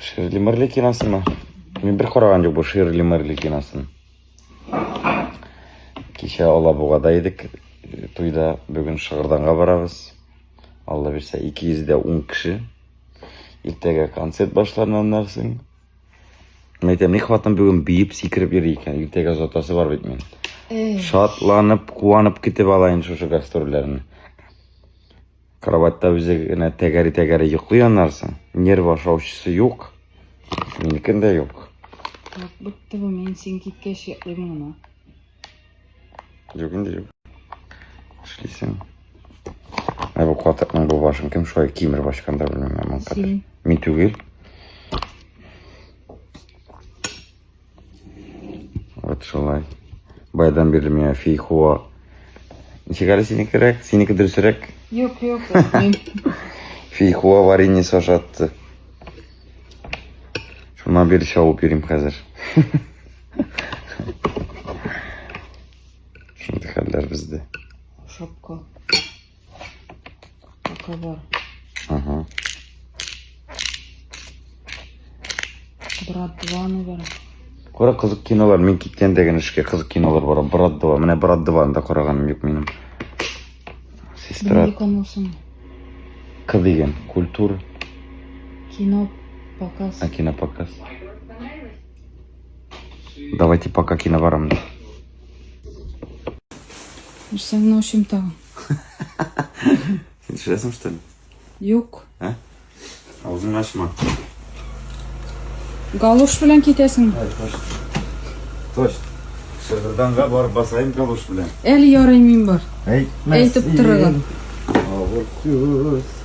Ширли Мырли киносымы? Мин бер караган юк бу Ширли Мырли киносын. Кичә Алабугада идек, э, туйда, бүген Шыгырданга барабыз. Алла бирсә 210 кеше. Иртәгә концерт башларына аннарсың. Мен әйтәм, ни хатын бүген биеп сикереп йөри икән. Иртәгә озатасы бар бит мин. Шатланып, куанып китеп алайын шушы гастрольләрне. Кроватьта үзе генә тәгәри-тәгәри йоклый аннарсың. Нерв ашаучысы юк. Минекен дә юк. Як бетте бу, мин син киткәч йоклыйм гына. Юк инде юк. Эшлисең. Ә бу катыкның бу башын кем шулай кимереп ачкан да белмим. Син. Мин түгел. Вот шулай. Байдан бирле миңа фейхуа. Ничек әле синекерәк? Синеке дөресрәк? Юк, юк. Фейхуа вареньясы ашатты. Шуна бир чабып йөрим хәзер. Шундый хәлләр бездә. Шапка. Така бар. Ага. Брат 2, наверное. Кара кызык кинолар, мин киткән дигән эшкә кызык кинолар бар. Брат 2, менә Брат 2 да караганым юк минем. Сестра. Нинди канал соң? К дигән, культур. Кино показ. А кино показ. Давайте пока кино барам. Сәннәү чимтагын. Син төшерәсең, что ли? Юк. Ә? Аузыңны ачма. Галуш белән китәсең. Точ. Шыгырданга барып басайын галуш белән. Әле ярый мин бар. Әйтмәс. Әйтеп торыгыз. Авыр сүз.